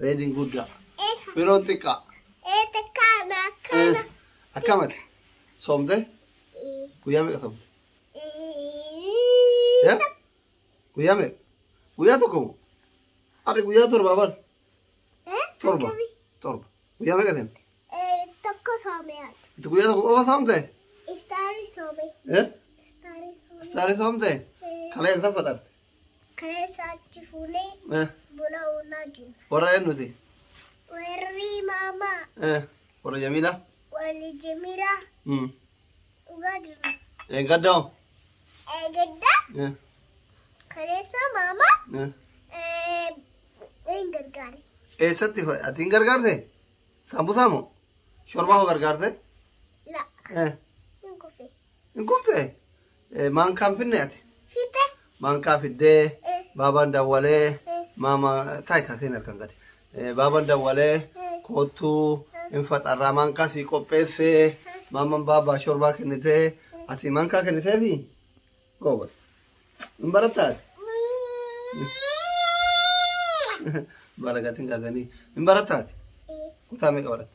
Reediin guddaa. Firoon xiqqaa. Akkamati. Soomte. Guyyaa meeqa soomte? Ya? Guyyaa meeqa? Guyyaa tokko moo? Harri guyyaa torba bar. Torba. Torba. Guyyaa meeqa seente? Tokko soomee. Itti guyyaa tokko qofa soomte? Istaari soomee. Eh? Istaari soomee. Saarii soomte? Kaleen san faxarte. Keessa achi fuunee Eh, buna uunaa jenna. Warra eenyuti? Warri maamaa Eh, Warra Jamiila? walii jimiraa Mm. dhugaa jirra. Eeggadda hoo? Eegedda Eh, kaleessa maamaa eh. eh, hin gargaari. Eessatti fa- ati hin gargaarte? Sambusaa moo? Shorbaa hoo gargaarte? La Eh, hin kufe. hin kufte? Eh, Maankaan finne ati? Fite. Maankaa fiddee Eh. baabaan dawwalee Eh. maama taa'e kaaseen harkaan gadi. Eh, Baabaan dawwalee Eh. koottuu hin faxarraa maankaa sii qopheessee maaman baabaa shorbaa kennitee ati maankaa kenniteefi goobas. Hin barattaa ati? Baragatiin kaasanii hin barattaa ati? Kutaa meeqa baratta?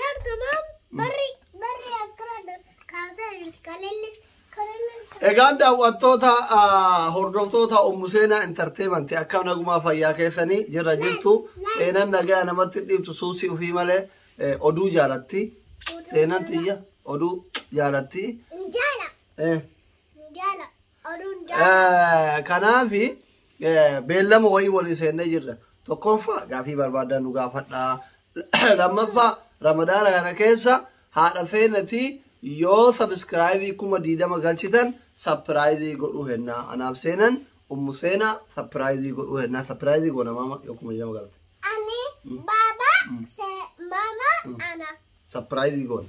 Lar tamam barri barri akkana kaasaa jirti kalellis kalellis. Egaan daawwattoota ah, hordoftoota Ummu Seenaa Intarteemantii akka nagumaa fayyaa keessanii jirra jirtu seenan nagaa namatti dhiibtu suusii ofii malee eh, oduu jaalatti seenan tiyya oduu jaalatti Injaala eh, injaala. Oduun Eh, kanaaf eh, beellama wayii walii seennee jirra tokkoffaa gaafii barbaadan nu gaafadhaa lammaffaa ramadaana kana keessa haadha seenatii yoo sabiskiraayizii kuma diidama galchitan sapiraayizii godhuu hennaa anaaf seenan ummu seenaa sapiraayizii godhuu hennaa sapiraayizii goona maama yoo kuma diidama galte Ani baba se mama ana. sapiraayizii goone.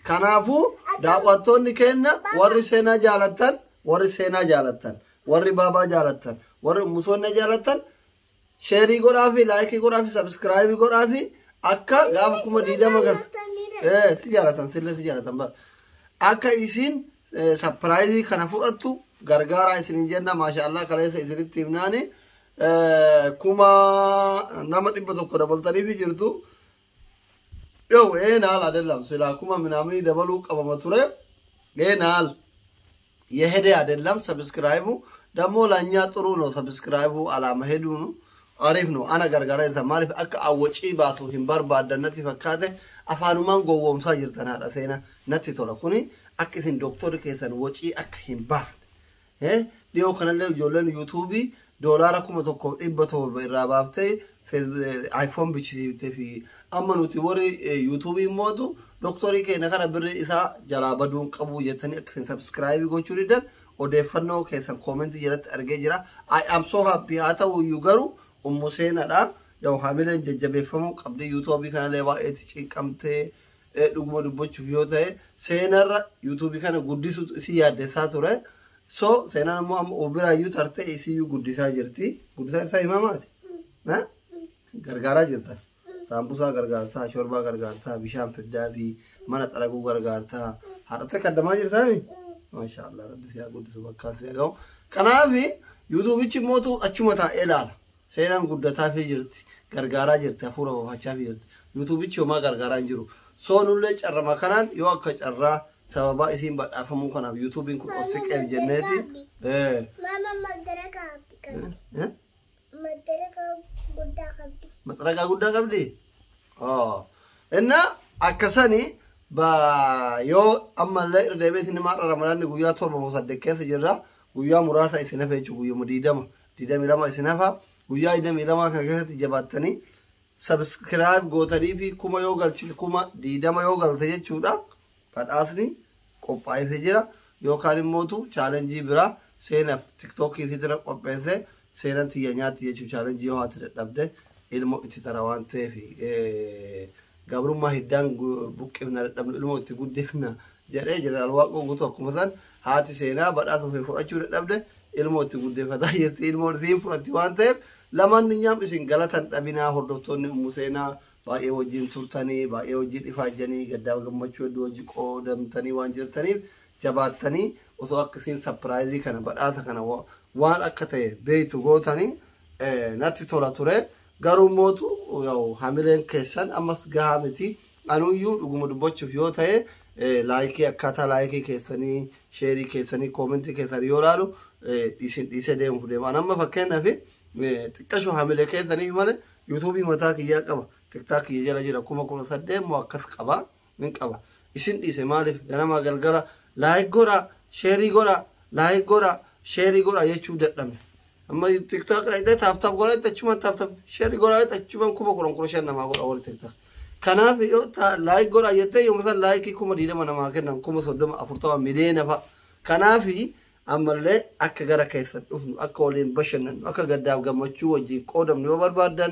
Kanaafuu daawwattoonni keenya warri seenaa jaalattan, warri seenaa jaalattan, warri baabaa jaalattan, warri ummusoonna jaalattan sheerii godhaa fi laayikii godhaa fi sabiskiraayibii godhaa fi akka gaafa kuma diidama gal. Eh, si jaalatan, sille si jaalatan bara. Akka isiin eh, sapiraayizii kana fudhattu gargaaraa isinin jenna maashaallah kaleessa isinitti himnaani eh, kuma nama dhibba tokko dabaltaniifi jirtu. Yow ee naal adellam silaa kuma minaamini dabaluu qabama ture ee naal yehede adellam sabiskiraayibu dammoo lanyaa xuruu no sabiskiraayibu alaama heduunu ariif no ana gargaara jirta maaliif akka awwacii baasu hin barbaaddan natti fakkaate afaanumaan gowwoomsaa jirtan haadha seena natti tola kuni akka isin dooktorri keessan wocii akka hin baafne Dhiyoo kanallee ijoolleen yuutuubii doolaara kuma tokkoof dhibba torba irraa baaftee iPhone bichisiiftee fi amma nuti warri yuutuubii mootu doktorii keenya kana birri isaa jalaa baduun qabu jettanii akka isin sabskiraayibii gochuu diddan odeeffannoo keessan koomentii jalatti argee jira. I am so happy haa ta'u iyyuu garuu ummu seenaadha. Yoo hamileen jajjabeeffamuu qabdi yuutuubii kanallee baay'eetti cinqamtee eh, dhuguma dubbachuuf yoo ta'e seenarra yuutuubii kana guddisuutu isii yaaddessaa ture. So seenaan ammoo amma of biraayyuu tartee isiyyuu guddisaa jirti. Guddisaa isaa himaa maati? Na? Gargaaraa jirta. Saambusaa gargaartaa, shorbaa gargaartaa, bishaan fiddaa fi mana xaraguu gargaartaa. Haadhattee kaddamaa jirtaani? Maashaa Allah rabbi siyaa guddisu bakkaa siyaa ga'u. Kanaaf yuutuubichi mootu achuma taa'ee ilaala. Seenaan guddataafii jirti, gargaaraa jirti, hafuura baafachaafii jirti. Yuutuubichi homaa gargaaraa hin jiru. Soo nullee carrama kanaan yoo akka carraa sababaa isiin badhaafamuu kanaaf yuutuubiin kun of siqeef jenneeti. Eh, Mama madara kaabdi eh, qabdi. eh. Madara kaabdi guddaa qabdi. maxaragaa guddaa qabdi. Oh. Inna akka sani ba yoo ammallee irra deebiitiin himaa dha ramadaanni guyyaa torba moo saddeet keessa jirra guyyaa muraasa isin hafe jechuun guyyuma diidama 22 isin hafa guyyaa 22 kana keessatti jabaattanii subscribe gootanii fi kuma yoo galchite kuma 20 yoo galte jechuudha badhaasni qophaa'eefee jira yookaan immootu chaalenjii biraa seenaaf tiktookii itti dira qopheesse seenan tiyya nyaatti jechuu chaalenjii yoo haati dadhabde ilmo itti tara waan ta'eef Gabrummaa hiddaan buqqifna dadhabnu ilmoo itti guddifna jedhee Jeneraal Waaqoo Guutuu akkuma san haati seenaa badhaasa ofii fudhachuu dadhabde ilmoo itti guddeeffataa jirti ilmoon isiin fudhatti waan ta'eef lamaanninyaam isin galata hin dhabinaa hordoftoonni ummu seenaa baay'ee wajjin turtanii baay'ee wajjin ifaajjanii gaddaaf gammachuu hedduu wajji qoodamtanii waan jirtaniif jabaattanii osoo akka isiin sapiraayizii kana badhaasa kana waan akka ta'e beektu gootanii natti tola ture Garuu mootu yaw hamileen keessan ammas gahaa miti anuyyuu dhuguma dubbachuuf yoo ta'e laayikii akkaataa laayikii keessanii sheerii keessanii koomentii keessan yoo laalu isin dhiisee deemuuf deema an amma fakkeenyaaf xiqqashu hamilee keessaniif malee yuutuubii mataa kiyyaa qaba tiktaak kiyya jala jira kuma kudha saddeet moo akkas qaba Nin qaba. Isin dhiise maaliif ganamaa galgala like godha share godha like godha share godha jechuu dadhabne. Amma tiktok irra itti taap taap godha itti achumaan taap taap share godha itti achumaan kuma kudhan kudha shan namaa godha warri tiktok. Kanaaf yoo ta like godha jettee yooma san like kuma diidama namaa kennan kuma soddoma afurtama miliyoona fa'a. Kanaaf ammallee akka gara keessan dhufnu akka waliin bashannannu akka gaddaaf gammachuu wajjin qoodamnu yoo barbaaddan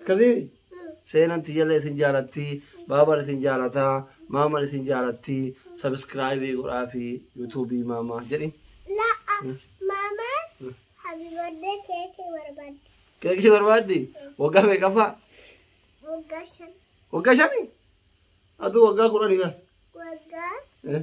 Akkasii seenan tiyyallee isin jaalatti baaban isin jaalata maaman isin jaalatti sabiskiraayibii godhaa fi yuutuubii maamaa jedhi. La mama happy birthday keke barbad. Keekii barbaaddi waggaa meeqaffaa Wagga shan. waggaa shani aduu waggaa kudhanii kan. Wagga Eh,